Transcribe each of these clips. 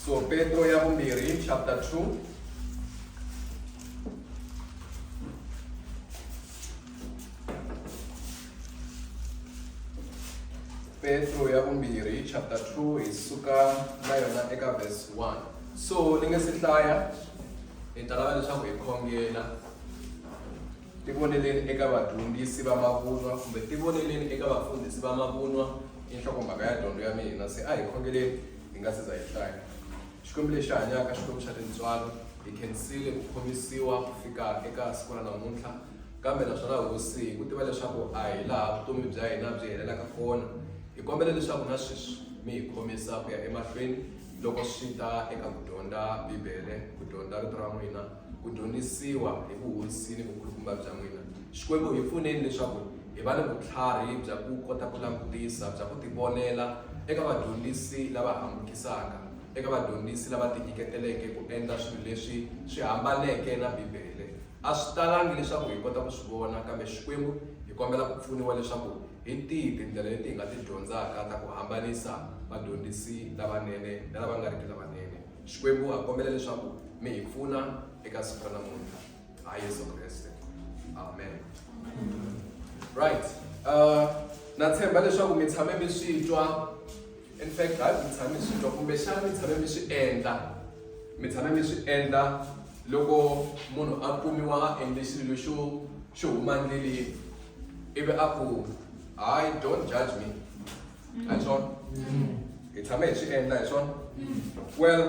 so petro ya vumbirhi chapter 2 petro ya vumbirhi chapter 2 hi suka na yona eka verse 1 so ni nge si hlaya hi ta lava leswaku hi khongela Tivoneleni eka vadyondzisi va mavunwa kumbe tivoneleni eka vafundhisi va mavunwa i nhlokomhaka ya dyondzo ya mina. Se a hi khongeleni hi nga si za hi hlaya. Xikwembu lexi hanyaka, Xikwembu xa tintswalo, hi khensile ku khomisiwa ku fika eka siku ra namuntlha. Kambe naswona Hosi, hi ku tiva leswaku a hi laha vutomi bya hina byi helelaka kona, hi kombela leswaku na sweswi mi hi khomisa ku ya emahlweni loko swi ta eka ku dyondza Bibele, ku dyondza Rito ra n'wina. ku dyondzisiwa hi vuhosi ni vukhulukumba bya n'wina. Xikwembu hi pfuneni leswaku hi va ni vutlhari bya ku kota ku langutisa bya ku tivonela eka vadyondzisi lava hambukisaka eka vadyondzisi lava tinyiketeleke ku endla swilo leswi swi hambaneke na bibele a swi talangi leswaku hi kota ku swi vona kambe xikwembu hi kombela ku pfuniwa leswaku hi tihi tindlela leti hi nga ti dyondzaka ta ku hambanisa vadyondzisi lavanene na lava nga riki lavanene Xikwembu ha kombela leswaku mi hi pfuna eka siku ra namuntlha ha Yesu Kreste amen right uh, na tshemba leswaku mi tshame mi swi twa in fact hayi mi tshame mi swi twa kumbexana mi tshame mi swi endla mi tshame mi swi endla loko munhu a kumiwa a endle xilo lexo xo huma ndleleni ivi a ku hayi don't judge me a hi swona hi tshame hi swi endla hi swona well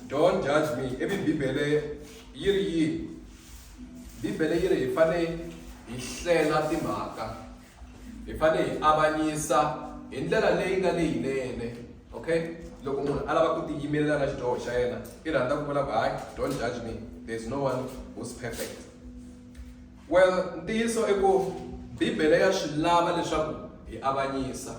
don't judge me ivi bibele yi ri yini bibele yi ri hi fane hi hlela timhaka hi fane hi avanyisa hi ndlela leyi nga leyinene okay loko munhu a lava ku tiyimelela na xidyoho xa yena i rhandza ku vula ku hayi don't judge me there's no one who's perfect Well, ntiyiso i ku Bibele ya swi lava leswaku hi avanyisa.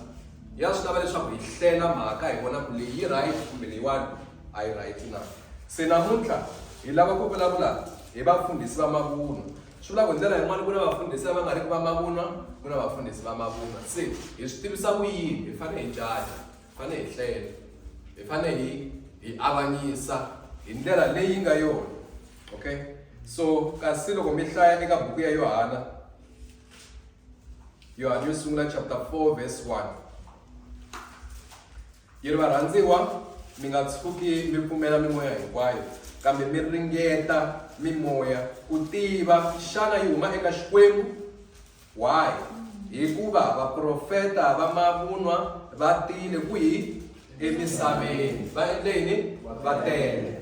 Ya swi lava leswaku hi hlela mhaka hi vona ku leyi yi right kumbe leyiwani a yi right na. Se namuntlha hi lava ku vulavula hi vafundhisi va mavunwa. Swi vula ku hi ndlela yin'wana ku na vafundhisi lava nga riki va mavunwa, ku na vafundhisi va mavunwa. Se hi swi tivisa ku yini? Hi fanele hi jaja, hi fanele hi hlela, hi fanele hi hi avanyisa hi ndlela leyi nga yona. okay so kasi loko mi hlaya eka buku ya yohana yohana yo sungula chapter 4 verse 1 yi ri varhandziwa mi nga tshuki mi pfumela mimoya hinkwayo kambe mi ringeta mimoya ku tiva xana yi huma eka xikwembu why hikuva vaprofeta va mavunwa va tile kwihi emisaveni va endle yini va tele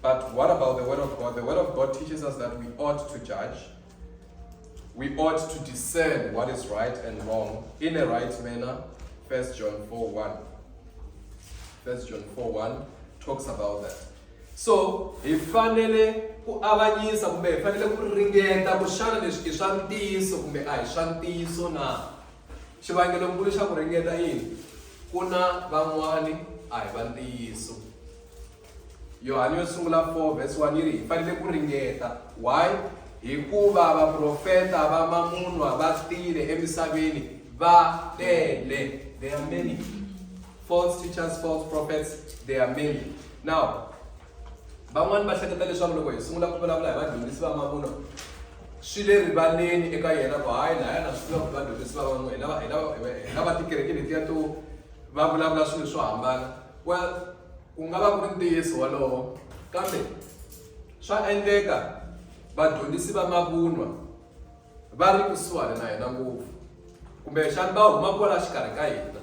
But what about the Word of God? The Word of God teaches us that we ought to judge. We ought to discern what is right and wrong in a right manner. 1 John 4 1. 1 John 4 1 talks about that. So, hi fanele ku avanyisa kumbe hi fanele ku ringeta ku xana leswi i swa ntiyiso kumbe a hi swa ntiyiso na xivangelonkulu xa ku ringeta yini ku na van'wani a hi va ntiyiso Yohane yo sungula 4 vhesi 1 yi ri hi fanele ku ringeta why hikuva vaprofeta va mamunwa va tile emisaveni va tele they are many false teachers false prophets they are many now van'wani va hleketa leswaku loko hi sungula ku vulavula hi vadyondzisi va mavunwa swi le rivaleni eka yena ku hayi laya na swi tiva ku vadyondzisi va van'we hi lava hi lava hi lava tikereke letiya to va vulavula swilo swo hambana well ku nga va ku ri ntiyiso wolowo kambe swa endleka vadyondzisi va mavunwa va ri kusuhani na hina ngopfu kumbexani va huma kwala xikarhi ka hina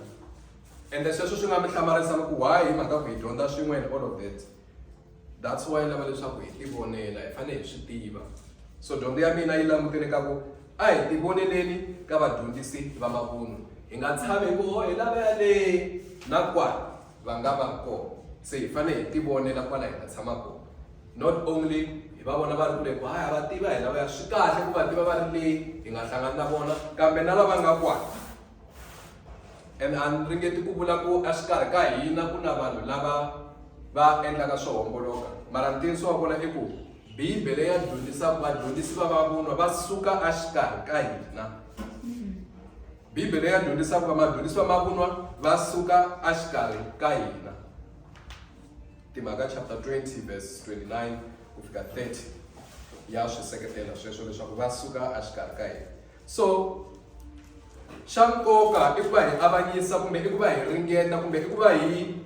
ende sweswo swi nga mi hlamarisa loko why hi mhaka ku hi dyondza swin'we and all of that that's why yi lava leswaku hi tivonela hi fanele hi swi tiva so dyondzo ya mina yi langutele ka ku a hi tivoneleni ka vadyondzisi va mavunwa hi nga tshami ku ho hi lava yaleyi na kwala va nga va kona se hi fanele hi tivonela kwala hi nga tshama kona not only hi va vona va ri kule ku haya va tiva hina va ya swi kahle ku va tiva va ri leyi hi nga hlangani na vona kambe na lava nga kwala and a ni ringeti ku vula ku exikarhi ka hina ku na vanhu lava va endlaka swo homboloka mara ntiyiso wa kona i ku bibele ya dyondzisa vadyondzisi va vavunwa va suka exikarhi ka hina Bibele ya dyondzisa ku va madzunisiwa ma vunwa va suka exikarhi ka hina timhaka chapter 20 verse 29 ku fika 30 ya swi seketela sweswo leswaku va suka exikarhi ka hina so xa nkoka i ku va hi avanyisa kumbe i ku va hi ringeta kumbe i ku va hi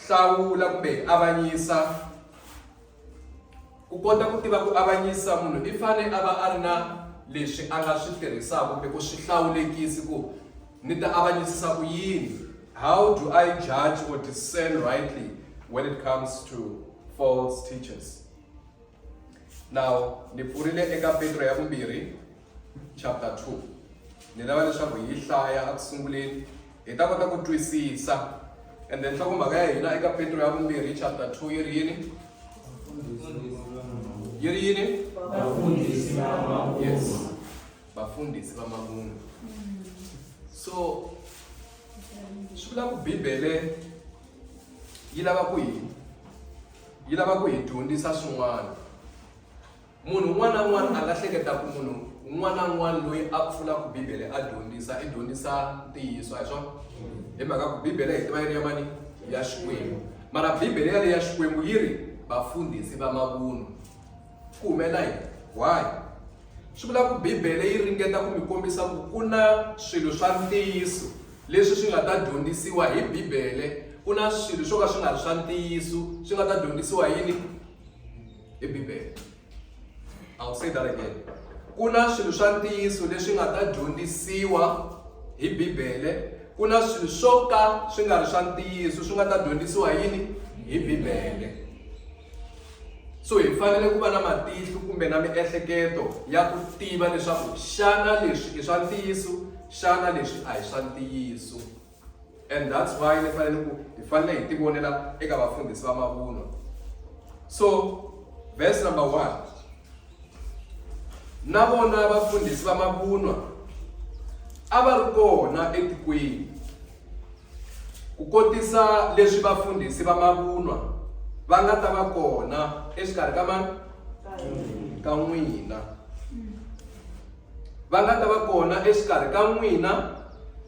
hlawula kumbe hi avanyisa Ku kota ku tiva ku avanyisa, munhu i fane a va a ri na leswi a nga swi tirhisaka kumbe ku swi hlawulekisi ku ni ta avanyisisa ku yini. How do I judge or discern rightly when it comes to false teachers? Now, ni pfurile eka Petro ya vumbirhi. chapter 2 ni lava leswaku hi yi hlaya eku sunguleni hi ta kota ku twisisa and then nhlokomhaka ya hina eka petro ya vumbirhi chapter 2 yi ri yini yi ri yini vafundhisi va mavunwa vafundhisi va mavunwa so swi vula ku bibele yi lava ku hi yi lava ku hi dyondzisa swin'wana munhu un'wana na un'wana a nga hleketa ku munhu un'wana na un'wana loyi a pfulaka bibele a dyondzisa i dyondzisa ntiyiso a hi swona hi mhaka ku bibele hi tiva yi ri ya mani ya xikwembu mara bibele yaleyi ya xikwembu yi ri vafundhisi va mavunwa ku humela yini why swi vula ku bibele yi ringeta ku mi kombisa ku ku na swilo swa ntiyiso leswi swi nga ta dyondzisiwa hi bibele ku na swilo swo ka swi nga ri swa ntiyiso swi nga ta dyondzisiwa yini i Bibele. I will say that again. Ku na swilo swa ntiyiso leswi nga ta dyondzisiwa hi Bibele, ku na swilo swo ka swi nga ri swa ntiyiso swi nga ta dyondzisiwa yini hi Bibele. So hi fanele ku va na matihlo kumbe na miehleketo ya ku tiva leswaku xana leswi i swa ntiyiso xana leswi a hi swa ntiyiso. and that's why ni fanele ku hi fanele hi tivonela eka vafundhisi va mavunwa so verse number one na vona vafundhisi va mavunwa a va ri kona etikweni ku kotisa leswi vafundhisi va mavunwa va nga ta va kona exikarhi ka mani ka n'wina va nga ta va kona exikarhi ka n'wina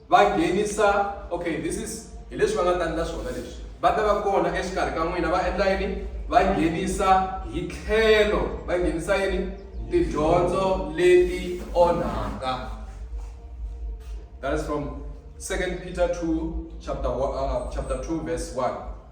va nghenisa okay this is hi leswi va nga ta endla swona leswi va ta va kona exikarhi ka n'wina va endla yini va nghenisa hi tlhelo va nghenisa yini tidyondzo leti onhaka that is from second peter 2 chapter, uh, chapter 2 verse 1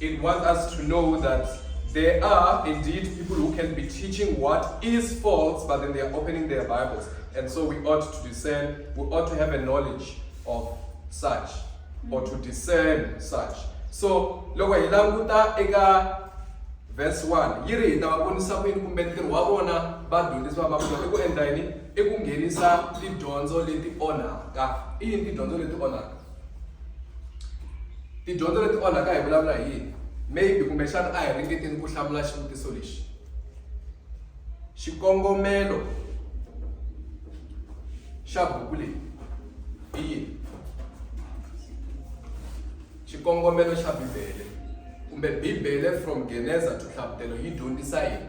It wants us to know that there are indeed people who can be teaching what is false, but then they are opening their Bibles. And so we ought to discern, we ought to have a knowledge of such, or to discern such. So, loko hi languta eka verse 1 yi ri hi ta va vonisa ku yini kumbe ntirho wa vona vadyondzisi va mavito i ku endla yini i ku nghenisa tidyondzo leti onhaka i yini tidyondzo leti onhaka tidyondzo leti onhaka hi vulavula hi yini maybe kumbexana a hi ringeteni ku hlamula xivutiso lexi xikongomelo xa buku leyi i yini xikongomelo xa bibele kumbe bibele from geneza to hlavutelo yi dyondzisa yini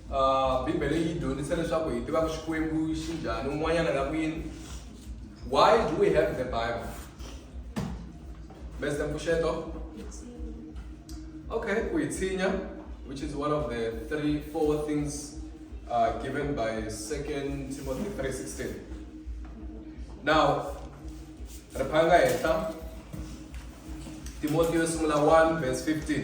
Uh, bibele yi dyondzisa leswaku hi tivaka xikwembu xi njhani un'wanyana na kwini why do we have the bible mester mpfuxeto okay ku yi tshinya which is one of the three four things uh, given by second timothy 316 now ri phanga henhla timothy yo sungula 1 verse 15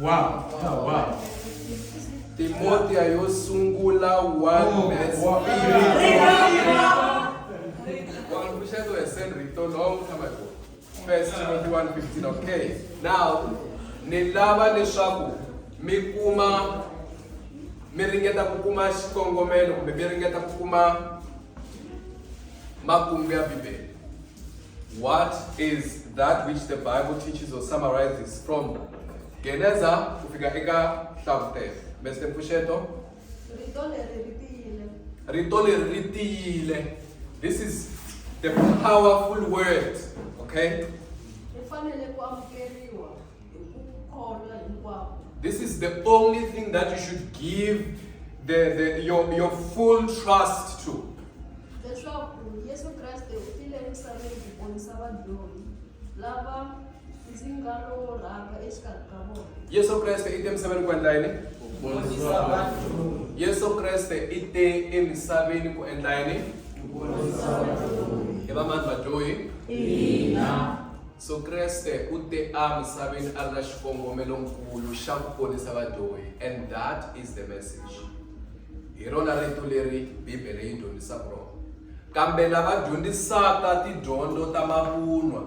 Wow. Oh, wow. Timothy yo sungula one verse. Wangushelo esenrito long time ago. First Timothy 1:15. Okay. Now, nilava leswaku mi kuma mi ringeta ku kuma xikongomelo kumbe mi ringeta ku kuma makungu ya Bibele. What is that which the Bible teaches or summarizes from Geneza kufika eka Hlavutelo? Mr. Mpfuxeto? Rito leri ri tiyile. Rito leri ri tiyile. This is the powerful word, okay? Ri fanele ku amukeriwa. This is the only thing that you should give the, the, your, your full trust to. Yesu Kriste ite emsebeni kwendla yini? Yesu Kriste ite emsebeni ku endla yini? Hi va mani vadyohi? Ina. So Kreste u te a misaveni a ri na xikongomelo-nkulu xa ku ponisa vadyohi, and that is the message. Hi rona rito leri Bibele yi dyondzisaka rona. Kambe lava dyondzisaka tidyondzo ta mavunwa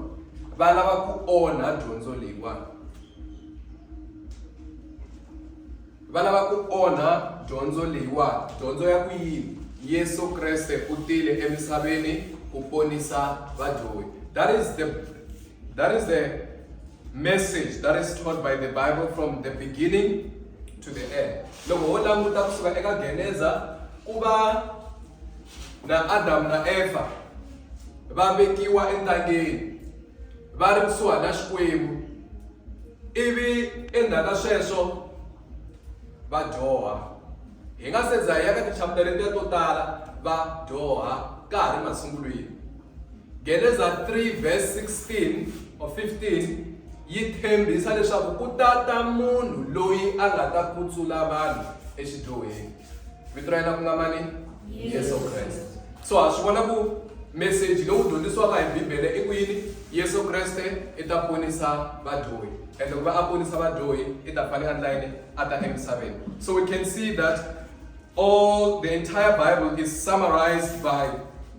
va lava ku onha dyondzo leyiwani. va lava ku onha dyondzo leyiwani dyondzo ya ku yini yesu kreste u tile emisaveni ku ponisa vadyohi that is the that is the message that is taught by the bible from the beginning to the end loko ho languta kusuka eka geneza ku va na adamu na efa va vekiwa entangeni va ri kusuhana xikwembu ivi endzhaku ka sweswo va dyoha hi nga se za hi ya ka tichaputara letiya to tala va dyoha ka ha ri masungulweni geneza 3 verse 16 or 15 yi tshembisa leswaku ku ta ta munhu loyi a nga ta kutsula vanhu exidyohweni vito ra yena ku nga mani yesu kreste so ha swi vona ku meseji lowu dyondzisiwaka hi bibele i ku yini yesu kreste i ta ponisa vadyohi ende ku va a ponisa vadyohi i ta fanele a ndla yini a ta emisaveni so we can see that all the entire bible is summarized by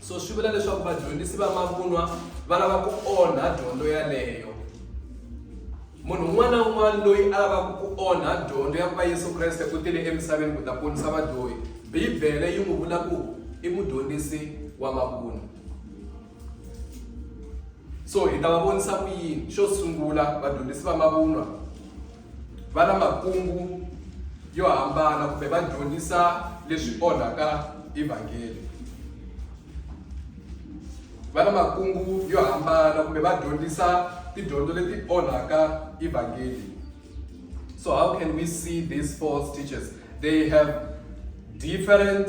so swi vula leswaku vadyondzisi va mavunwa va lava ku onha dyondzo yaleyo munhu un'wana na un'wana loyi a lavaka ku onha dyondzo ya ku va yesu kreste ku tile emisaveni ku ta ponisa vadyohi bibele yi n'wi vula ku i mudyondzisi wa mavunwa so hi ta va vonisa ku yini xo sungula vadyondzisi va mavunwa va na makungu yo hambana kumbe va dyondzisa leswi onhaka evhangeli va na makungu yo hambana kumbe va dyondzisa tidyondzo leti onhaka evhangeli so how can we see these false teachers they have different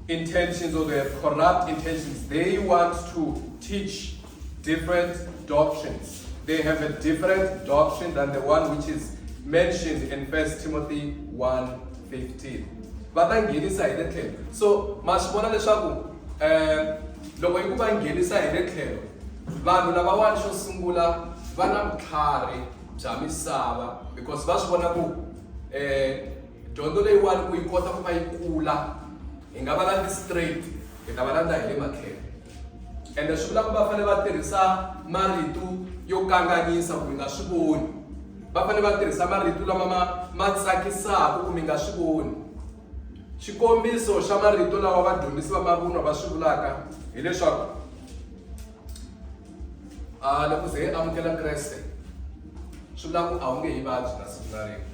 intentions or they have corrupt intentions they want to teach Different doctrines. They have a different doctrine than the one which is mentioned in 1 Timothy 1:15. Va ta nghenisa hi le tlhelo. So ma swi vona leswaku eh loko yi ku va nghenisa hi le tlhelo vanhu lavawani xo sungula va na vutlhari bya misava because va swi vona ku eh dyondzo leyiwani ku yi kota ku va yi kula hi nga va landzi straight hi ta va landza hi le matlhelo ende swi vula ku va fanele va tirhisa marito yo kanganyisa ku mi nga swi voni va fanele va tirhisa marito lama ma ma tsakisaka ku mi nga swi voni xikombiso xa marito lawa vadyondzisi va mavunwa va swi vulaka hileswaku a ah, loko ze amukela kreste swi vula ku a wu nge hi vabyi na siku na rin'we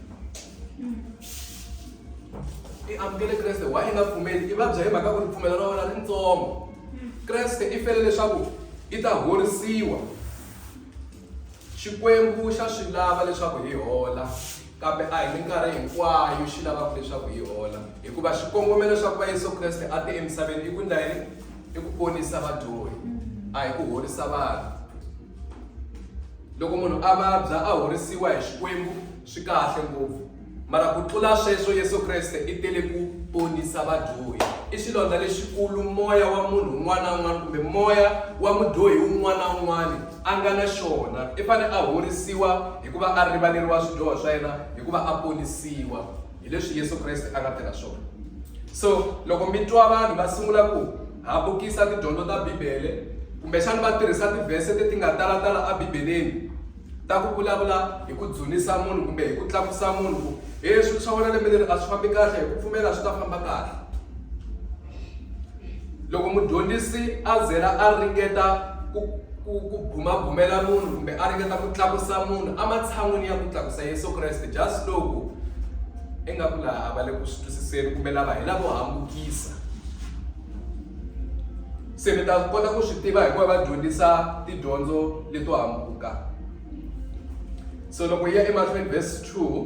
i amukele kreste why i nga pfumeli i vabya hi mhaka ku ripfumelo ra wena ritsongo kreste i fele leswaku i ta horisiwa xikwembu xa swi lava leswaku hi hola kambe a hi minkarhi hinkwayo xi lavaka leswaku hi hola hikuva xikongomelo xa ku va yesu kreste a te emisaveni i ku ndla yini i ku ponisa vadyohi a hi ku horisa vanhu loko munhu a vabya a horisiwa hi xikwembu Swi kahle ngopfu. Mara ku tlula sweswo Yesu Kreste i tele ku ponisa vadyohi. I xilondza lexikulu moya wa munhu un'wana na un'wana kumbe moya wa mudyohi un'wana na un'wana a nga na xona. I fanele a horisiwa hi ku va a rivaleriwa swidyoho swa yena hi ku va a ponisiwa. Hi leswi Yesu Kreste a nga tirha swona. So loko mi twa vanhu va sungula ku habukisa tidyondzo ta Bibele kumbexana va tirhisa tivhese leti nga talatala eBibeleni, Ta ku vulavula hi ku dzunisa munhu kumbe hi ku tlakusa munhu ku he swilo swa wena lembe leri a swi fambi kahle hi ku pfumela swi ta famba kahle loko mudyondzisi a zela a ringeta ku ku ku bumabumela munhu kumbe a ringeta ku tlakusa munhu ematshan'wini ya ku tlakusa yesu kreste just loko ingaku laha a va le ku swi twisiseni kumbe lava hi lavo hambukisa se mi ta kota ku swi tiva hikuva va dyondzisa tidyondzo leto hambuka so loko yi ya emahlweni verse 2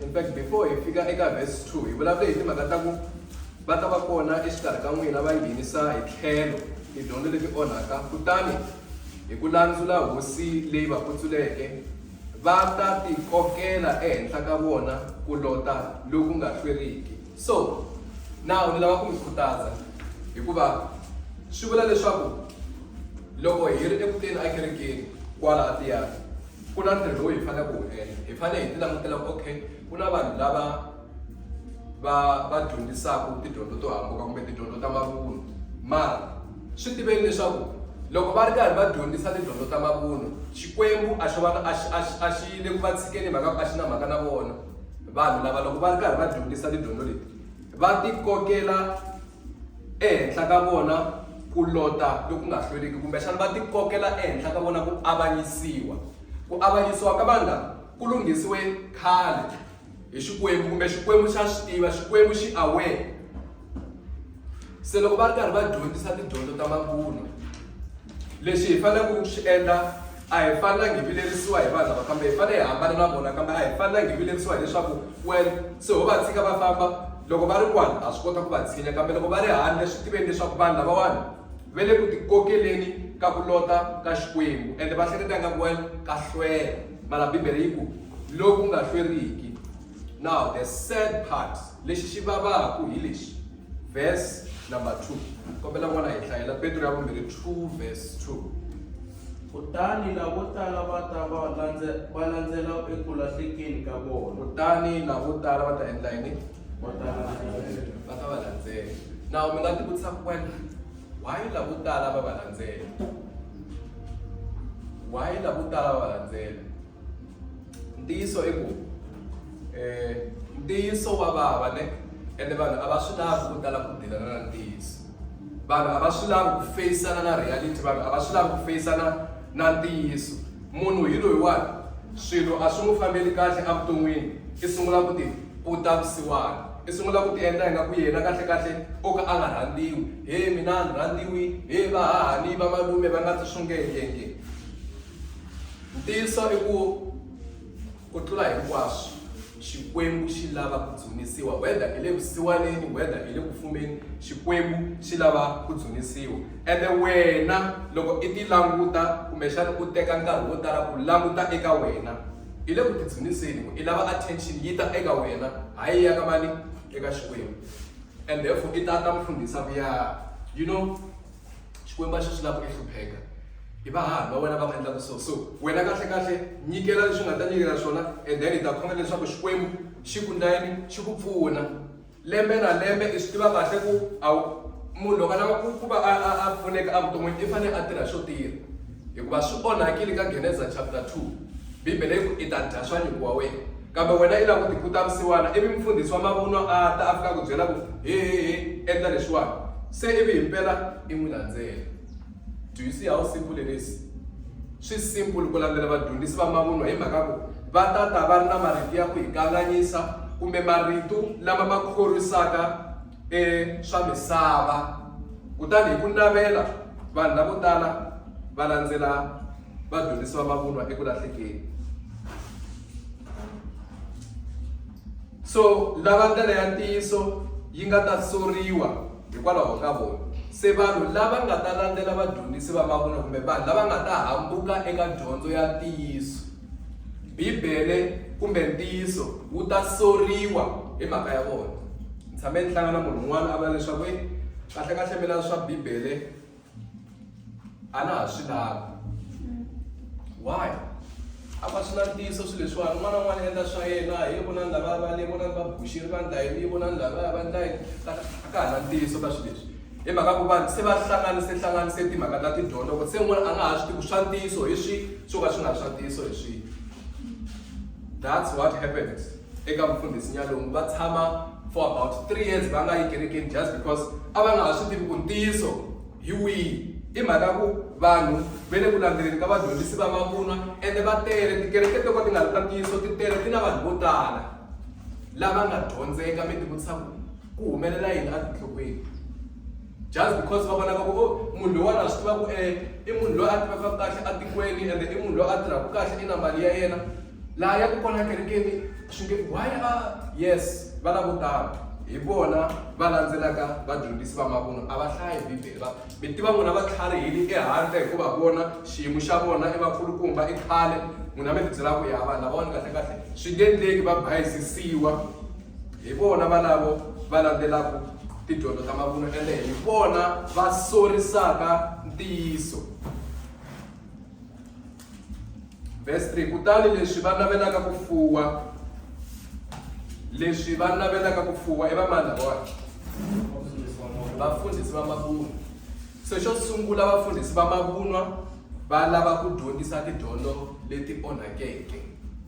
in fact before hi fika eka verse 2 hi vulavule hi timhaka ta ku va ta va kona exikarhi ka n'wina va nghenisa hi tlhelo tidyondzo leti onhaka kutani hi ku landzula hosi leyi va kutsuleke va ta tikokela ehenhla ka vona ku lota loku nga hlweriki. So, now ni lava ku mi khutaza hikuva swi vula leswaku loko hi ri eku teni ekerekeni kwala a tiyani ku na ntirho lowu hi faneleke ku wu endla hi fanele hi ti langutela ku okay ku na vanhu lava va va dyondzisaka tidyondzo to hambuka kumbe tidyondzo ta mavunwa mara swi tiveni leswaku loko va ri karhi va dyondzisa tidyondzo ta mavunwa xikwembu a xi va a xi a xi a xi le ku va tshikeni mhaka ku a xi na mhaka na vona vanhu lava loko va ri karhi va dyondzisa tidyondzo leti va ti kokela ehenhla ka vona ku lota loku nga hlweliki kumbexana va ti kokela ehenhla ka vona ku avanyisiwa ku avanyisiwa ka vanhu lava ku lunghisiwe khale hi xikwembu kumbe xikwembu xa swi tiva xikwembu xi aware se loko va ri karhi va dyondzisa tidyondzo ta mabulo lexi hi faneleke ku xi endla a hi fanelangi hi vilerisiwa hi vanhu lava kambe hi fanele hi hambana na vona kambe a hi fanelangi hi vilerisiwa hileswaku well se ho va tshika va famba loko va ri kwani ha swi kota ku va tshinya kambe loko va ri handle swi tiveni leswaku vanhu lavawani va le ku tikokeleni ka ku lota ka xikwembu ende va hleketa nga ku well ka hlwela mara bibele yi ku loku nga hlweriki now the sad part lexi xi vavaku hi lexi verse number 2 kombela n'wana hi hlayela petro ya vumbirhi 2 verse 2 kutani lavo tala va ta va landze va landzela eku lahlekeni ka vona kutani lavo tala va ta endla yini va ta va ta va landzela now mi nga ti vutisa ku wena Why lavo tala va va landzela? Why lavo tala va va landzela? Ntiyiso i ku eh ntiyiso wa vava ne ende vanhu a va swi lavi ku tala ku dilana na ntiyiso. Vanhu a va swi lavi ku face-ana na reality, vanhu a va swi lavi ku face-ana Na ntiyiso, munhu hi loyiwani swilo a swi n'wi fambeli kahle evuton'wini, i sungula ku ti puta vusiwana. I sungula ku tiendla ingaku yena kahlekahle o ka a nga rhandziwi. He mina a ni rhandziwi, he vahahani, vamalume va nga ndzi xungeta nge. Ntiyiso i ku. Ku tlula hinkwaswo, Xikwembu xi lava ku dzunisiwa. Whether i le vusiwaneni, whether i le ku fumeni, Xikwembu xi lava ku dzunisiwa. Ene wena loko i ti languta kumbexana u teka nkarhi wo tala ku languta eka wena, i le ku ti dzuniseni ku i lava attention yi ta eka wena, hayi ya ka mani? Eka Xikwembu. And therefore i ta ta mfundhisa ku ya, you know, xikwembu a xi swi lava ku hlupheka hi vahani va wena va nga endlaka so so wena kahle kahle nyikela leswi nga ta nyikela swona and then hi ta khongela leswaku xikwembu xi ku ndlayini xi ku pfuna lembe na lembe i swi tiva kahle ku a munhu loko a lava ku ku va a a a pfuneka evuton'wini i fanele a tirha swo tirha hikuva swi onhakile ka geneza chapter 2 bibele yi ku i ta dya swa nyuku wa wena kambe wena i lava ku tikuta msiwana ivi mfundhisi wa mavunwa a ta a fika ku byela ku hehehe endla leswiwani se ivi himpela i n'wi landzela do you see how simple it is swi simple ku landzela vadyondzisi va mavunwa hi mhaka ku va tata va ri na marito ya ku hi kanganyisa kumbe marito lama ma khorisaka eswa misava, kutani hi ku navela vanhu lavo tala va landzela vadyondzisi va mavunwa eku lahlekeni. So lava ndlela ya ntiyiso yi nga ta soriwa hikwalaho ka vona. Se vanhu lava nga ta landzela vadyondzisi va mavunwa kumbe vanhu lava nga ta hambuka eka dyondzo ya ntiyiso. Bibele kumbe ntiyiso wu ta soriwa hi mhaka ya vona. Ni tshame ni hlangana munhu un'wana a vula leswaku e kahle kahle mina swa Bibele a na ha swi lavi. Why? A va swi na ntiyiso swilo leswiwani un'wana na un'wana endla swa yena hi vonani lavaya va le vonani va buxile va ndla yini vonani lavaya va ndla yini a ka ha na ntiyiso ka swilo leswi. hi mhaka ku vanhu se va hlanganise hlanganise timhaka ta tidyondzo ku se n'wana a nga ha swi tivi swa ntiyiso hi swi swo ka swi nga ri swa ntiyiso hi swi that's what happened eka mufundhisi nyalungu va tshama for about three years va nga yi kerekeni just because a va nga ha swi tivi ku ntiyiso hi wihi i mhaka ku vanhu ve le ku landzeleni ka vadyondzisi va mavunwa ende va tele tikereke to ka ti nga ri ta ntiyiso ti tele ti na vanhu vo tala lava nga dyondzeka mi ti vutisa ku ku humelela yini etinhlokweni just because va vonaka ku o oh, munhu loyiwani a swi tiva ku e i munhu loyi a tivaka kahle etikweni ende i munhu loyi a tirhaka kahle i na mali ya yena laha ya ku kona kerekeni swi nge why a yes va lavo tala hi vona va landzelaka vadyondzisi va mavunwa a va hlayi bibele va mi tiva n'wina va tlhariheli ehandle hikuva vona xiyimo xa vona i vakulukumba i khale n'wina mi tibyela ku ya vanhu lavawani kahle kahle swi nge endleki va bayizisiwa hi vona valavo va landzelaka tidyondzo ta mavunwa ende hi vona va sorisaka ntiyiso verse 3 kutani leswi va navelaka ku fuwa leswi va navelaka ku fuwa i vamani lavawani vafundhisi va mavunwa se xo sungula vafundhisi va mavunwa va lava ku dyondzisa tidyondzo leti onhakeke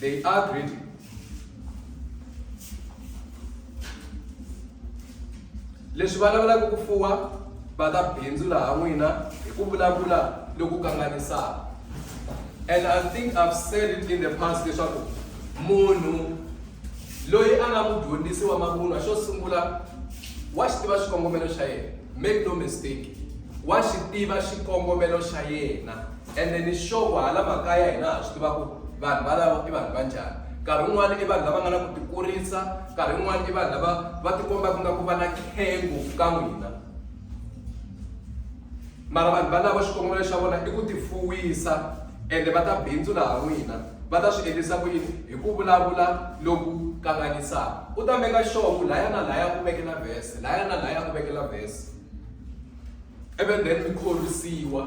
they agreed leswi va lavelaka ku fuwa va ta bindzu laha n'wina hi ku vulavula loku kanganisaka and i think i've said it in the past leswaku munhu loyi a nga mudyondzisi wa mavunwa xo sungula wa xi tiva xikongomelo xa yena make no mistake wa xi tiva xikongomelo xa yena ende ni xovo hala makaya hina ha swi tiva ku vanhu valavo i vanhu va njhani nkarhi wun'wana i vanhu lava nga na ku tikurisa nkarhi wun'wana i vanhu lava va tikomba ku nga ku va na khengu ka n'wina mara vanhu valavo xikongomelo xa vona i ku tifuwisa ende va ta bindzu laha n'wina va ta swi endlisa ku yini hi ku vulavula loku kanganyisaka u ta meka xovo laya na laya ku vekela vhese laya na laya ku vekela vhese ivi then mi khorwisiwa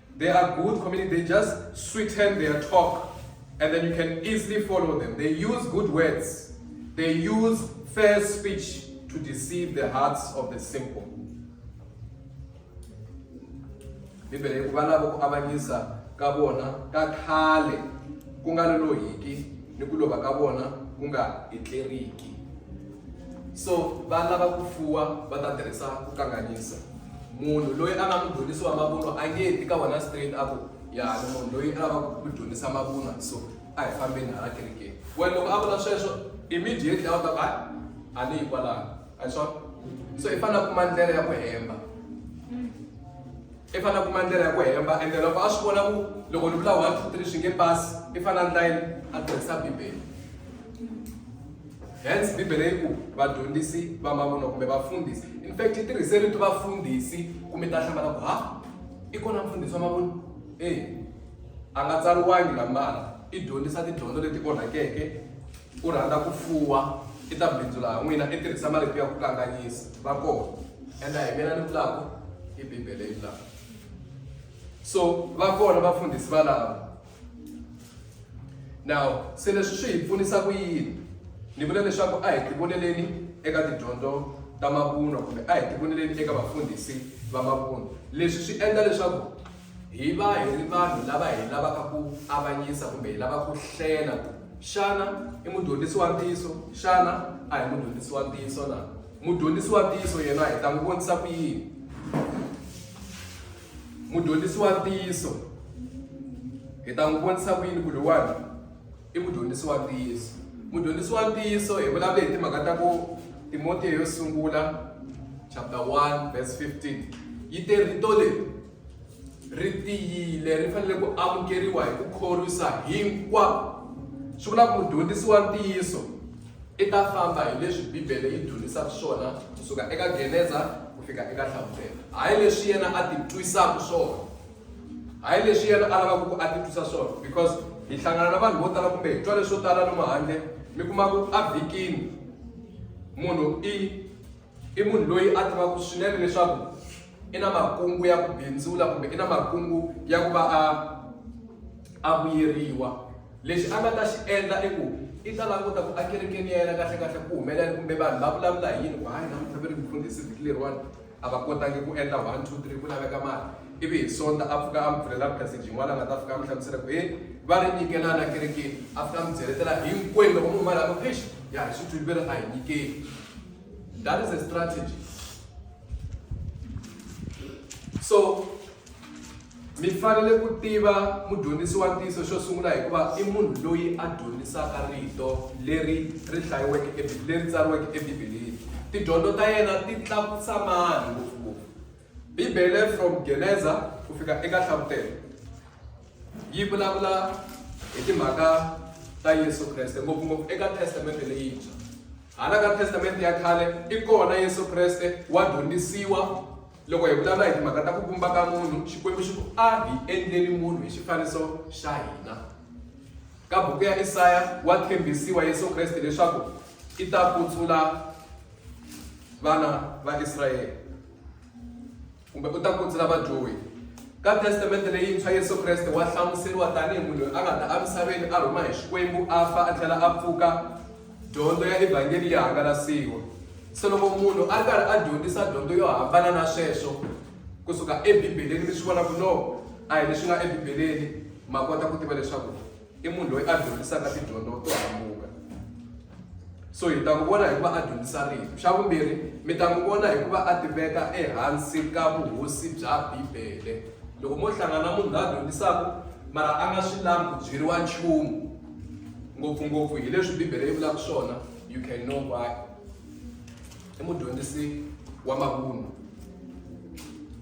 They are good community. They just sweeten their talk and then you can easily follow them. They use good words. They use fair speech to deceive the hearts of the simple. Bibele ku valava ku avanyisa ka vona ka khale ku nga lolohiki ni ku lova ka vona ku nga etleriki. so va lava ku fuwa va ta tirhisa ku kanganyisa munhu loyi a nga mudyondzisi wa mavunwa a nge ti ka wena straight a ku ya ni munhu loyi a lavaka ku dyondzisa mavunwa so a hi fambeni hala kerekeni wena loko a vula sweswo immediately a wu ta ku hayi a ni yi kwalano a hi swona so i fanele kuma ndlela ya ku hemba i fanele kuma ndlela ya ku hemba ende loko a swi vona ku loko ni vula one two three swi nge pasi i fanele ndlayini a tirhisa bibele Hence, Bibele yi ku vadyondzisi va mavunwa kumbe vafundhisi. In fact, yi tirhise rito vafundhisi ku mi ta hlamala ku ha i kona mfundhisi wa mavunwa? Eya, a nga tsariwangi la mara i dyondzisa tidyondzo leti onhakeke u rhandza ku fuwa i ta bindzula ha n'wina i tirhisa marito ya ku kanganyisa va kona ende a hi mina ni vulaka i bibele yi vulaka so va kona vafundhisi valava Now, se leswi swi hi pfunisa ku yini? Ni vula leswaku a hi tivoneleni eka tidyondzo ta mavunwa kumbe a hi tivoneleni eka vafundhisi va mavunwa. Leswi swi endla leswaku hi va hi ri vanhu lava hi lavaka ku avanyisa kumbe hi lava ku hlela ku xana i mudyondzisi wa ntiyiso, xana a hi mudyondzisi wa ntiyiso na? Mudyondzisi wa ntiyiso yena hi ta n'wi vonisa ku yini? Mudyondzisi wa ntiyiso hi ta n'wi vonisa ku yini ku loyiwani i mudyondzisi wa ntiyiso mudyondzisi wa ntiyiso hi vulavule hi timhaka ta ku timotiya yo sungula chapter 1 verse 15 yi te rito leri ri tiyile ri fanele ku amukeriwa hi ku khorwisa hinkwavo swi vula ku mudyondzisi wa ntiyiso I ta famba hi leswi Bibele yi dyondzisaka swona kusuka eka Geneza ku fika eka Hlamusela. Hayi leswi yena a ti twisaka swona. Hayi leswi yena a lavaka ku a ti twisa swona because hi hlangana na vanhu vo tala kumbe hi twa leswo tala lomu handle mi kuma ku a vhikini munhu i I munhu loyi a tivaka swinene leswaku i na makungu ya ku bindzula kumbe i na makungu ya ku va a a vuyeriwa lexi a nga ta xi endla i ku i ta languta ku ekerekeni ya yena kahle kahle ku humelela kumbe vanhu va vulavula hi yini ku hayi namuntlha ve ri mfundhisi vhiki leriwani a va kotangi ku endla one two three ku laveka mali ivi hi sonta a pfuka a mi pfulela passage yin'wana a nga ta fika a mi hlamusela ku he va ri nyikelana ekerekeni a fika a mi byeletela hinkwenu loko munhu mali a ku eish ya hi swi twile ve ri a hi nyikeli That is a strategy. So, mi fanele ku tiva mudyondzisi wa ntiyiso xo sungula hikuva i munhu loyi a dyondzisaka rito leri ri hlayiweke leri tsariweke ebibeleni tidyondzo ta yena ti tlakusa mani ngopfungopfu bibele from geneza ku fika eka hlavutelo yi vulavula hi timhaka ta yesu kreste ngopfungopfu eka testamente leyintshwa Hala ka Testamente ya Khale i kona Yesu Kreste wa dyondzisiwa. Loko hi vulavula hi timhaka ta ku vumba ka munhu, Xikwembu xi ku, A hi endleni munhu hi xifaniso xa hina. Ka buku ya Isaya wa tshembisiwa Yesu Kreste leswaku i ta kutsula vana va Israyele. Kumbe u ta ku ndzi na vadyohi. Ka Testamente Leyintshwa, Yesu Kreste wa hlamuseriwa tanihi munhu loyi a nga ta emisaveni a rhuma hi Xikwembu, a fa, a tlhela a pfuka, dyondzo ya Evhangeli yi hangalasiwa. Se loko munhu a ri karhi a dyondzisa dyondzo yo hambana na sweswo ku suka eBibeleni, mi swi vona ku no, a hi leswi nga eBibeleni, ma kota ku tiva leswaku. i munhu loyi a dyondzisaka tidyondzo to hambuka so hi ta n'wi vona hikuva a dyondzisa rito xa vumbirhi mi ta n'wi vona hikuva a tiveka ehansi ka vuhosi bya bibele loko mo hlangana munhu la dyondzisaka mara a nga swi lavi ku byeriwa nchumu ngopfungopfu hi leswi bibele yi vulaka swona you can know why i mudyondzisi wa mavunwa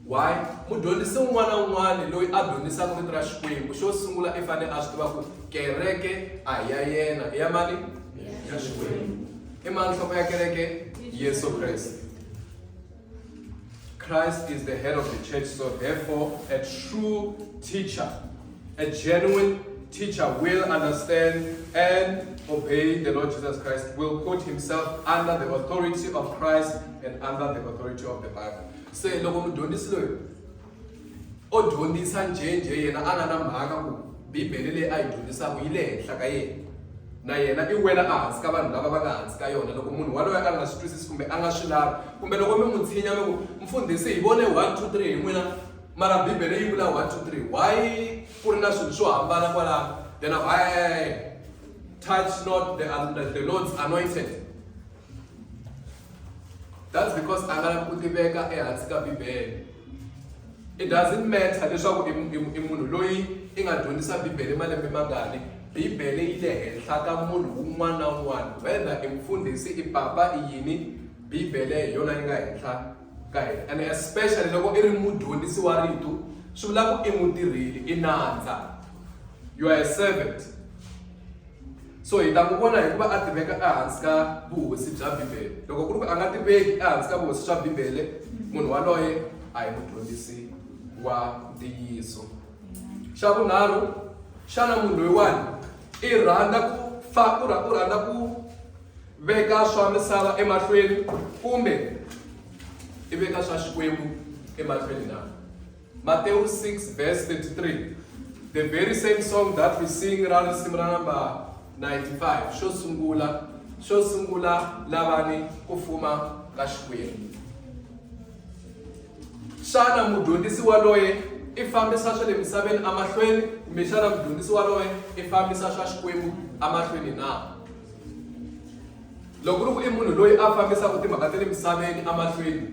why mudyondzisi un'wana na un'wana loyi a dyondzisaka vito ra xikwembu xo sungula i fanele a swi tiva ku kereke a hi ya yena i ya mani ya xikwembu i mani nhloko ya kereke yesu kreste christ is the head of the church so therefore a true teacher A genuine teacher will understand and obey the Lord Jesus Christ, will put himself under the authority of Christ and under the authority of the Bible. So, loko mudyondzisi loyi o dyondzisa njhenjhe yena a nga na mhaka ku bibele leyi a yi dyondzisaka yi le henhla ka yena na yena i wela ehansi ka vanhu lava va nga hansi ka yona loko munhu waloye a nga swi twisisi kumbe a nga swi lavi kumbe loko mi n'wi tshinya mi ku mfundhisi hi vone one two three hi n'wina mara bibele yi vula 1 2 3 why ku ri na swilo swo hambana kwalaho then a hey, touch not the, um, the, the lord's anointed that's because a nga lavi ku tiveka ehansi ka bibele it doesn't matter leswaku i munhu loyi i nga dyondzisa bibele malembe mangani bibele yi le henhla ka munhu un'wana na un'wana whether i mufundhisi i papa i yini bibele hi yona yi nga henhla ka hina and especially loko i ri mudyondzisi wa rito swi vula ku i mutirheli i nandza you are a servant so hi ta ku vona hikuva a tiveka ehansi ka vuhosi bya bibele loko ku ri ku a nga tiveki ehansi ka vuhosi bya bibele munhu waloye a hi mudyondzisi wa ntiyiso xa vunharhu xana munhu loyiwani i rhandza ku fa u rhandza ku veka swa misava emahlweni kumbe i veka swa xikwembu emahlweni na matewu 6 verse 33 the very same song that we sing ra risimu ra namba 95 xo sungula xo sungula lavani ku fuma ka xikwembu Xana mudyondzisi waloye i fambisa swa le misaveni emahlweni kumbe xana mudyondzisi waloye i fambisa swa Xikwembu emahlweni na? Loko ri ku i munhu loyi a fambisaka timhaka ta le misaveni emahlweni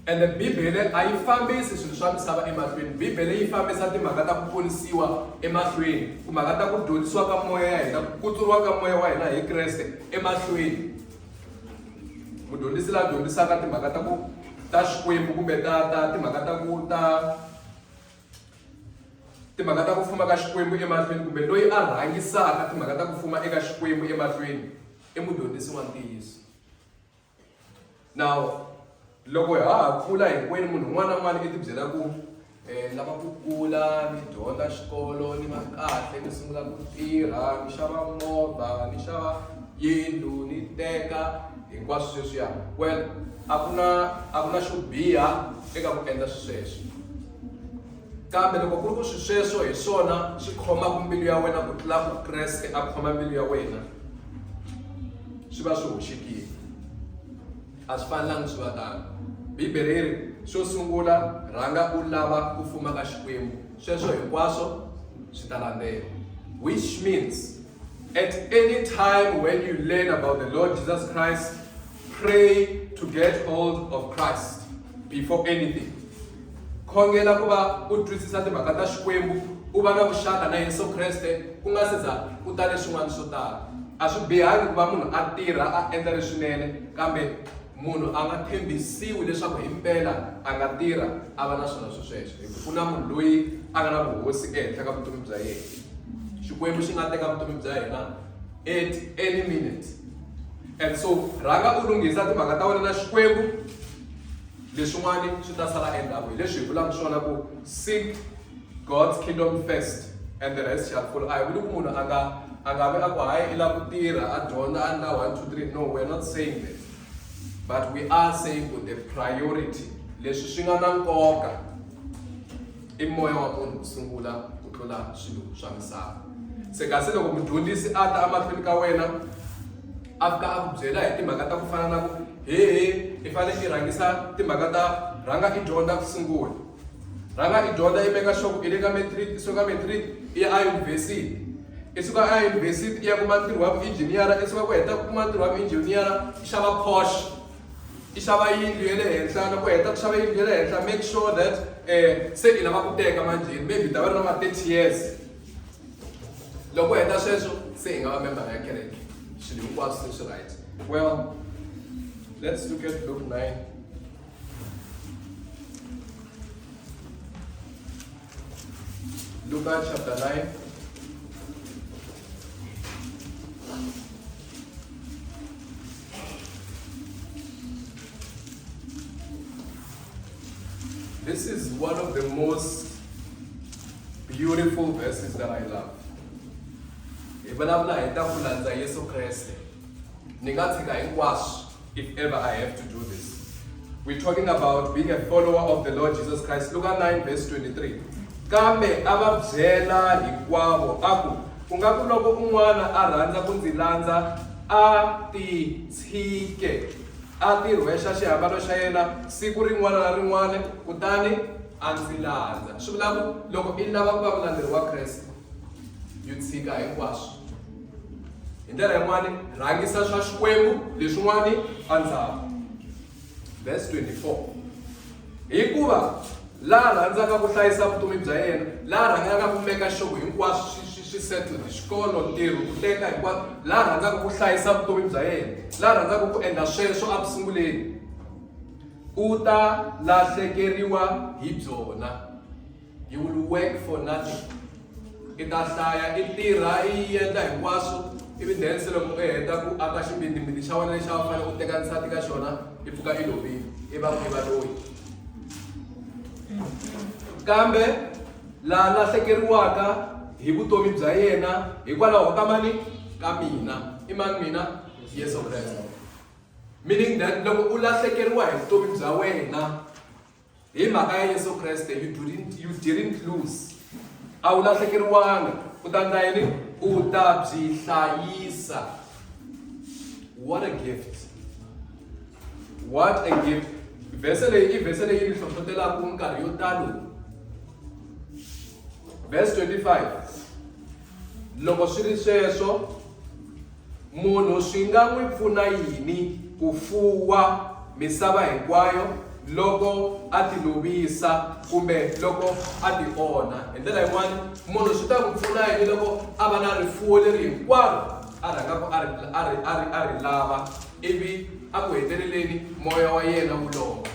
ende Bibele a yi fambisi swilo swa misava emahlweni Bibele yi fambisa timhaka ta ku ponisiwa emahlweni timhaka ta ku dyondzisiwa ka moya ya hina ku kutsuriwa ka moya wa hina hi Kreste emahlweni mudyondzisi la dyondzisaka timhaka ta ku ta xikwembu kumbe ta ta timhaka ta ku ta timhaka ta ku fuma ka xikwembu emahlweni kumbe loyi a rhangisaka timhaka ta ku fuma eka xikwembu emahlweni i mudyondzisi wa ntiyiso now Loko ha ha kula hinkwenu munhu un'wana na un'wana i tibyela ku um lava ku kula ni dyondza xikolo ni va kahle ni sungula ku tirha ni xava movha ni xava yindlu ni teka hinkwaswo sweswiya well a ku na a ku na xo biha eka ku endla swisweswo kambe loko ku ri ku swi sweswo hi swona swi khomaka mbilu ya wena ku tlula ku kreste a khoma mbilu ya wena swi va swi hoxekile A swi fanelanga swi va tano. Bibele yi ri, Xo sungula rhanga u lava ku fuma ka Xikwembu, sweswo hinkwaswo swi ta landzela. Which means, at any time when you learn about the Lord Jesus Christ, pray to get hold of Christ before anything. Khongela ku va u twisisa timhaka ta Xikwembu, u va na vuxaka na Yesu Kreste ku nga se za ku ta leswin'wana swo tala. A swi bihangi ku va munhu a tirha a endla leswinene, kambe munhu a nga tshembisiwi leswaku himpela a nga tirha a va na swona sweswo, hikuva ku na munhu loyi a nga na vuhosi ehenhla ka vutomi bya yena. Xikwembu xi nga teka vutomi bya hina at any minute and so rhanga u lunghisa timhaka ta wena na Xikwembu. Leswin'wana swi ta sala endzhaku, hi leswi hi vulaka swona ku, Seek God's kingdom first and the rest shall follow. A hi vuli ku munhu a nga a nga vi a ku hayi i lava ku tirha a dyondza a endla one two three no we are not saying that but we are saying ku the priority leswi swi nga na nkoka I moya wa munhu ku sungula ku tlula swilo swa misava. Se kasi loko mudyondzisi a ta emahlweni ka wena a fika a ku byela hi timhaka ta ku fana na ku hehe i fanele i rhangisa timhaka ta rhanga i dyondza ku sungula rhanga i dyondza i meka sure ku i le ka matric i suka matric i ya eyunivhesiti i suka eyunivhesiti i ya kuma ntirho wa vuinjhiniyara i suka ku heta ku kuma ntirho wa vuinjhiniyara i xava porsche i xava yindlu ya le henhla loko u heta ku xava yindlu ya le henhla make sure that um se i lava ku teka manjheni maybe u ta va ri na ma thirty years loko u heta sweswo se hi nga va membara ya kereke swilo hinkwaswo se swi right well let's look at look nine Luca chapter 9. This is one of the most beautiful verses that I love. Hi vulavula hi ta ku landza Yesu Kreste. Ni nga tshika hinkwaswo if ever I have to do this. We're talking about being a follower of the Lord Jesus Christ. Luke 9 verse 23. Kambe a va byela hinkwavo a ku ku nga ku loko un'wana a rhandza ku ndzi landza a titshike a tirhwexa xihambano xa yena siku rin'wana na rin'wana kutani a ndzi landza swi vula ku loko i lava ku va mulandzeri wa kreste yi tshika hinkwaswo hi ndlela yin'wani rhangisa swa xikwembu leswin'wani endzhaku verse 24 hikuva la rhandzaka ku hlayisa vutomi bya yena la rhandzaka ku meka xoko hinkwaswo swi settled xikolo ntirho ku teka hinkwaswo la rhandzaka ku hlayisa vutomi bya yena la rhandzaka ku endla sweswo a ku sunguleni u ta lahlekeriwa hi byona You will work for nothing. I ta hlaya i tirha i endla hinkwaswo ivi then se loko i heta ku aka xibindzibindzi xa wena lexi a wu fanele u teka nsati ka xona i pfuka i lovile i va i va loyi kambe la lahlekeriwaka hi vutomi bya yena hikwalaho ka mani ka mina i mani mina yesu kreste meaning that loko u lahlekeriwa hi vutomi bya wena hi mhaka ya yesu kreste you didn't, you didn't lose a wu lahlekeriwanga u ta ndla yini u ta byi hlayisa what a gift what a gift vhese leyi i vhese leyi ni hlohlotelaka nkarhi yo talo verse 25 loko swi ri sweswo Munhu swi nga n'wi pfuna yini ku fuwa misava hinkwayo loko a ti lovisa kumbe loko a ti onha? Hi ndlela yin'wana, munhu swi ta n'wi pfuna yini loko a va na rifuwo leri hinkwaro a rhangaka a ri a ri a ri a ri lava ivi a ku heteleleni moya wa yena wu lova?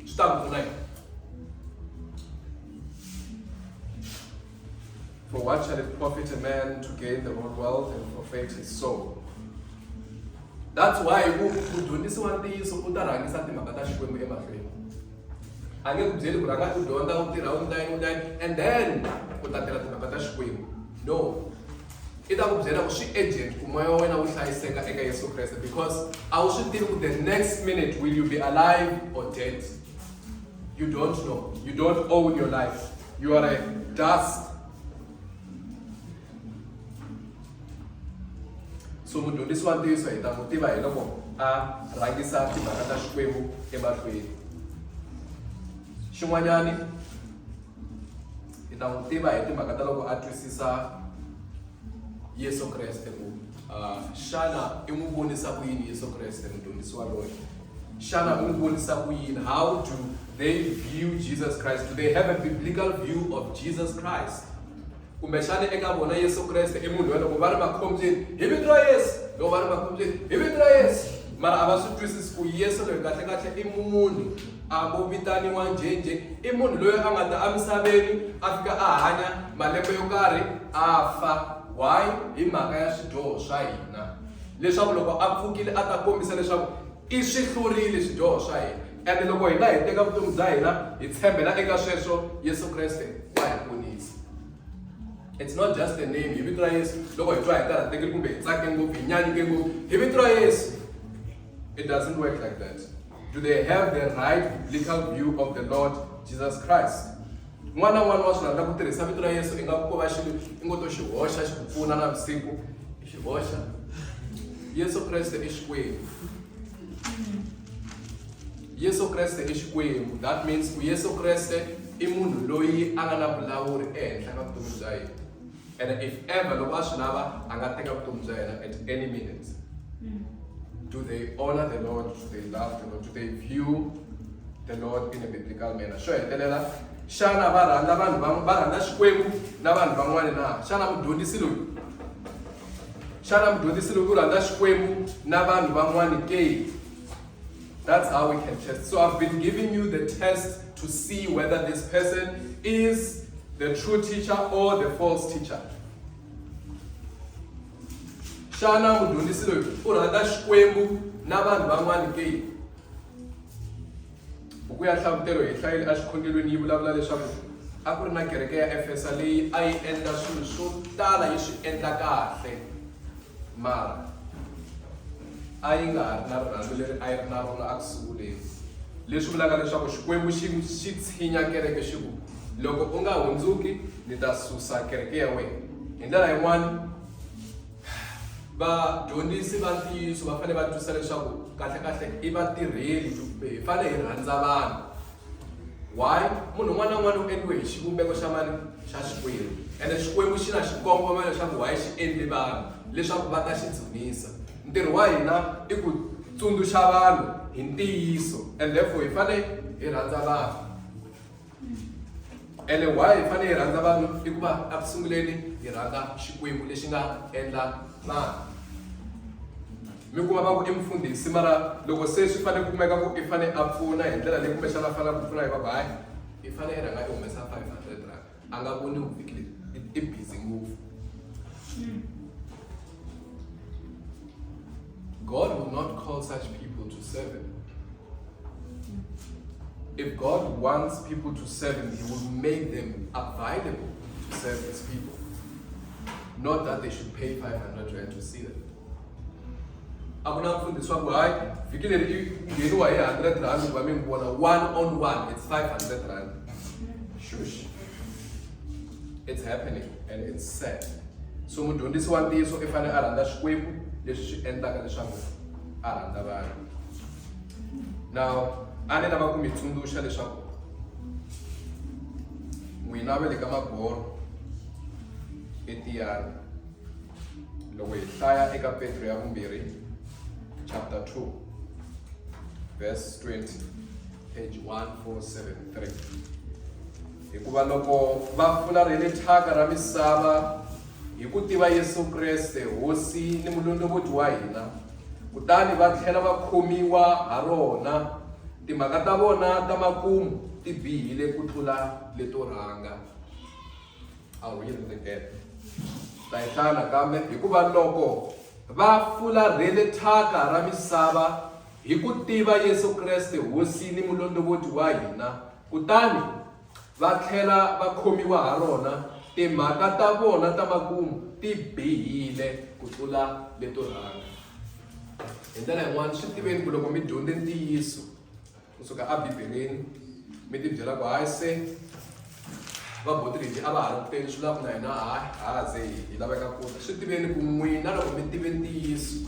Swi ta n'wi pfuna yini? For what shall it profit a man to gain the whole world and forfeit his soul? That's why ku dyondzisiwa ntiyiso u ta rhangisa timhaka ta xikwembu emahlweni a nge ku byeli ku rhanga u dyondza u tirha u ndlayi u ndlayi and then u ta tirha timhaka ta xikwembu no i ta ku byela ku swi agent ku moya wa wena wu hlayiseka eka yesu kreste because a wu swi tivi ku the next minute will you be alive or dead You don't know. You don't own your life. You are a dust. so mudyondzisi wa ntiyiso hi ta n'wi tiva hi loko a rhangisa timhaka ta xikwembu emahlweni xin'wanyani hi ta n'wi tiva hi timhaka ta loko a twisisa yesu kreste ku xana i n'wi vonisa ku yini yesu kreste mudyondzisi waloye Xana u n'wi vonisa ku yini? How do they view Jesus Christ? Do they have a biblical view of Jesus Christ? kumbe xana eka vona yesu kreste i munhu wa loko va ri makhombyeni hi vito ra yesu loko va ri makhombyeni hi vito ra yesu mara a va swi twisisi ku yesu loyi kahlekahle i munhu a vo vitaniwa njhenje i munhu loyi a nga ta emisaveni a fika a hanya malembe yo karhi a fa why hi mhaka ya swidyoho swa hina leswaku loko a pfukile a ta kombisa leswaku i swi hlurile swidyoho swa hina ende loko hina hi teka vutomi bya hina hi tshembela eka sweswo yesu kreste wa hi ponisa it's not just a name hi vito ra yesu loko hi twa hi karhatekile kumbe hi tsake ngopfu hi nyanyuke ngopfu hi vito ra yesu it doesn't work like that do they have the right biblical view of the lord jesus christ n'wana n'wana wa swi rhandza ku tirhisa vito ra yesu i nga ku ko va xilo i ngo to xi hoxa xi ku pfuna na vusiku Xi boxa. Yesu Kreste i Xikwembu. Yesu Kreste i Xikwembu. That means ku Yesu Kreste i munhu loyi a nga na vulawuri ehenhla ka vutomi bya yena. And if ever loko a swi lava a nga teka vutomi bya yena at any minute. Hmm. Do they honor the Lord? Do they love the Lord? Do they view the Lord in a biblical manner? Xo hetelela xana va rhandza vanhu va rhandza Xikwembu na vanhu van'wana na xana mudyondzisi loyi xana mudyondzisi loko u rhandza xikwembu na vanhu van'wani ke that's how we can test so i've been giving you the test to see whether this person is the true teacher or the false teacher xana mudyondzisi loyi u rhandza xikwembu na vanhu van'wani ke Buku ya Nhlavutelo hi hlayile exikhongelweni yi vulavula leswaku a ku ri na kereke ya Efesa leyi a yi endla swilo swo tala yi swi endla kahle mara a yi nga ha ri na rirhandzu leri a yi ri na rona a ku sunguleni leswi vulaka leswaku xikwembu xi xi tshinya kereke xi ku loko u nga hundzuki ni ta susa kereke ya wena hi ndlela yin'wana vadyondzisi va ntiyiso va fanele va twisisa leswaku kahlekahle i vatirheli kumbe hi fanele hi rhandza vanhu why munhu un'wana na un'wana u endliwe hi xivumbeko xa mani xa xikwembu ene xikwembu xi na xikongomelo xa ku why xi endli vanhu leswaku va ta xi dzunisa ntirho wa hina i ku tsundzuxa vanhu hi ntiyiso and therefore hi fanele hi rhandza vanhu ene why hi fanele hi rhandza vanhu i ku va eku sunguleni hi rhandza xikwembu lexi nga endla vanhu mi kuma va ku i mfundhisi mara loko se swi fanele ku kumeka ku i fanele a pfuna hi ndlela leyi kumbexana a fanele ku pfuna hi vabayi i fanele i rhanga i humesa five hundred rand a nga voni vuvhiki lebyi i busy ngopfu God will not call such people to serve him. If God wants people to serve Him, He will make them available to serve His people. Not that they should pay 500 rand to see them. akunamfundiswa ku hayi vhiki leri i ngheniwa hi 100 rand ku va mi n'wi vona one on one it's 500 rand shush it's happening and it's sad so mudyondzisi wa ntiyiso i fanele a rhandza xikwembu leswi swi endlaka leswaku a rhandza vanhu Now, a ni lava ku mi tsundzuxa leswaku n'wina va le ka magoro etiyani loko hi hlaya eka petro ya vumbirhi chapter 2 verse 20 page 1473 hikuva loko va fularhele thyaka ra misava hi ku tiva yesu kreste hosi ni mulondlovoti wa hina kutani va tlhela va khomiwa ha rona. Timhaka ta vona ta makumu ti bihile ku tlula leto rhanga. A wu yi rindzekete. Ta yi hlaya nakambe hikuva loko va fularhele thyaka ra misava hi ku tiva Yesu Kreste Hosi ni Mulondovoti wa hina, kutani va tlhela va khomiwa ha rona, timhaka ta vona ta makumu ti bihile ku tlula leto rhanga. Hi ndlela yin'wana swi tiveni ku loko mi dyondze ntiyiso kusuka ebibeleni mi tibyela ku hayi se vaboti lebyi a va ha ri ku teni swi lava ku na hina ha ha ze hi laveka ku ta swi tiveni ku n'wina loko mi tive ntiyiso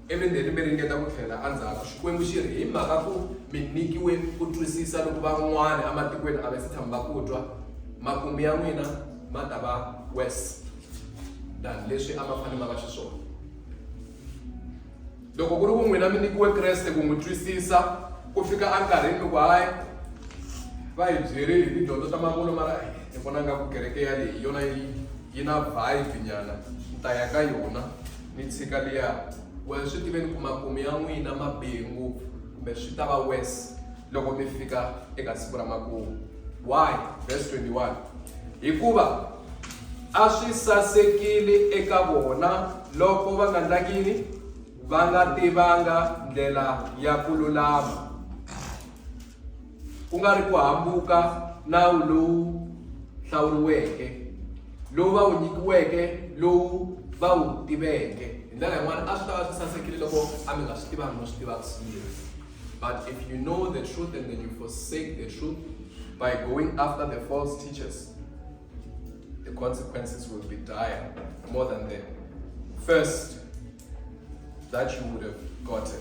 Ivi ndheni mi ringeta ku tlhela endzhaku. Xikwembu xi ri, Hi mhaka ku mi nyikiwe ku twisisa loku van'wana ematikweni a va si tshama va ku twa, makumu ya n'wina ma ta va worse than leswi a ma fanele ma va xiswona. Loko ku ri ku n'wina mi nyikiwe Kreste ku n'wi twisisa ku fika enkarhini loko hayi va hi byeri hi tidyondzo ta mavunwa mara ni vona nga ku kereke yaleyi hi yona yi yi na vibe nyana ni ta ya ka yona. Ni tshika liya. Well, swi tiveni ku makumu ya n'wina ma bihe ngopfu kumbe swi ta va worse loko mi fika eka siku ra makumu. Why? Verse 21. Hikuva a swi sasekile eka vona loko va nga ndlaki yini va nga tivanga ndlela ya ku lulama ku nga ri ku hambuka nawu lowu hlawuriweke lowu va wu nyikiweke lowu va wu tiveke hi ndlela yin'wana a swi ta va swi sasekile loko a mi nga swi tivangi no swi tivaka swinene but if you know the truth and then you forsake the truth by going after the false teachers the consequences will be dire more than the first that you would have gotten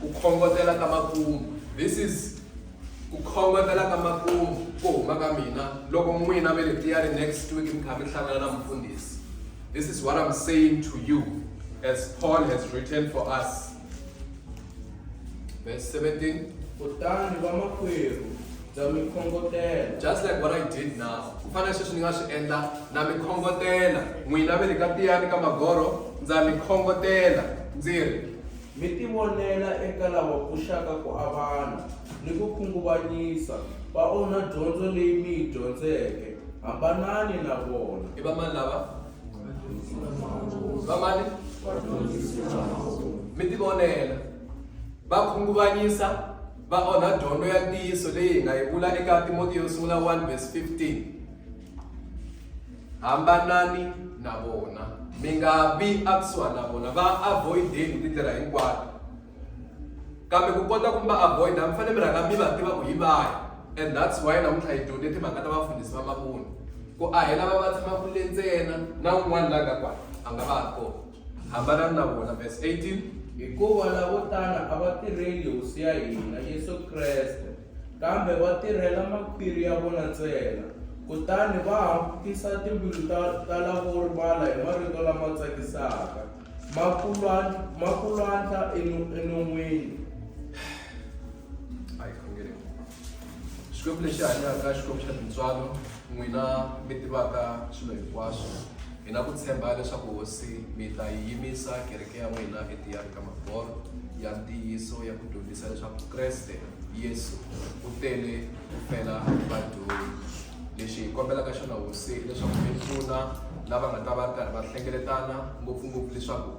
ku khongotela ka makumu this is ku khongotela ka makumu ku huma ka mina loko n'wina ve le tiyari next week mi kha mi hlangana na mufundhisi this is what i'm saying to you as paul has written for us verse 17 kutani vamakwerhu bya mi khongotela just like what i did now ku fana sweswi ni nga swi endla na mi khongotela n'wina ve le ka tiyani ka magoro ndza mi khongotela ndzi ri Mi tivonela eka lava pfuxaka ku avana ni ku khunguvanyisa, va onha dyondzo leyi mi yi dyondzeke. Hambanani na vona. I vamani lava? Vamani? Mi tivonela. Va khunguvanyisa, va onha dyondzo ya ntiyiso leyi hi nga yi vula eka Timotiyo yo Sungula 1 verse 15. hambanani na vona mi nga vi akusuhani na vona va avoideni hi tindlela hinkwato kambe ku kota ku va avoida mi fanele mi rhanga mi va tiva ku hi vahi and that's why namuntlha hi dyondze timhaka ta vafundhisi va mavoni ku ahela va va tshama kule ntsena na un'wana la nga kwa a nga va ha kona hambanani na vona verse 18 hikuva lavo tala a va tirheli hosi ya hina yesu kreste Kambe va tirhela makhwiri ya vona ntsena, kutani va hambukisa timbilu ta, ta lavo rivala hi marito lama tsakisaka, ma ku lwa, ma ku lwandla enu, enon'wini. Hayi, khongele. Xikwembu lexi hanyaka, Xikwembu xa tintswalo, n'wina mi tivaka swilo hinkwaswo, hi na ku tshemba leswaku Hosi mi ta yi yimisa kereke ya n'wina etiyani ka maforo ya ntiyiso ya ku dyondzisa leswaku Kreste Yesu u tele ku fela vadyohi lexi hi kombelaka xona hosi leswaku mi pfuna lava nga ta va karhi va hlengeletana ngopfungopfu leswaku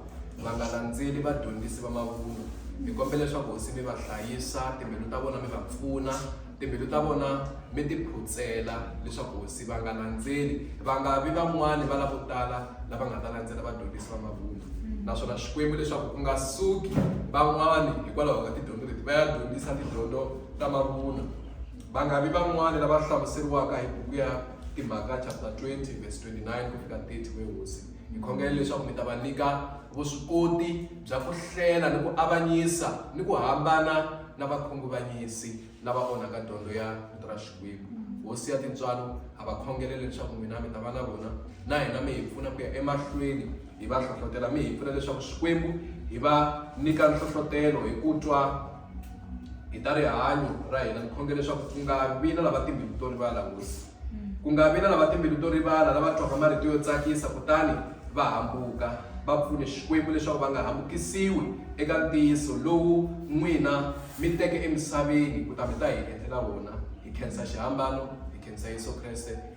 va nga landzeli vadyondzisi va mavunwa hi kombela leswaku hosi mi va hlayisa timbilu ta vona mi va pfuna timbilu ta vona mi ti phutsela leswaku hosi va nga landzeli va nga vi van'wani va lavo tala lava nga ta landzela vadyondzisi va mavunwa naswona Xikwembu leswaku ku nga suki van'wana hikwalaho ka tidyondzo leti va ya dyondzisa tidyondzo ta mavunwa va nga vi van'wana lava hlamuseriwaka hi buku ya timhaka chapter 20 verse 29 ku fika 30 we hosi hi khongela leswaku mi ta va nyika vuswikoti bya ku hlela ni ku avanyisa ni ku hambana na vakhunguvanyisi lava onhaka dyondzo ya vito ra xikwembu hosi ya tintswalo ha va khongelele leswaku n'wina mi ta va na vona na hina mi hi pfuna ku ya emahlweni hi va hlohlotela mi hi pfuna leswaku xikwembu hi va nyika nhlohlotelo hi ku twa hi ta rihanyo ra hina ni khongela leswaku ku nga vi na lava timbilu to rivala hosi ku nga vi na lava timbilu to rivala lava twaka marito yo tsakisa kutani va hambuka va pfune xikwembu leswaku va nga hambukisiwi eka ntiyiso lowu n'wina mi teke emisaveni ku ta mi ta hi endlela wona hi khensa xihambano hi khensa yesu kreste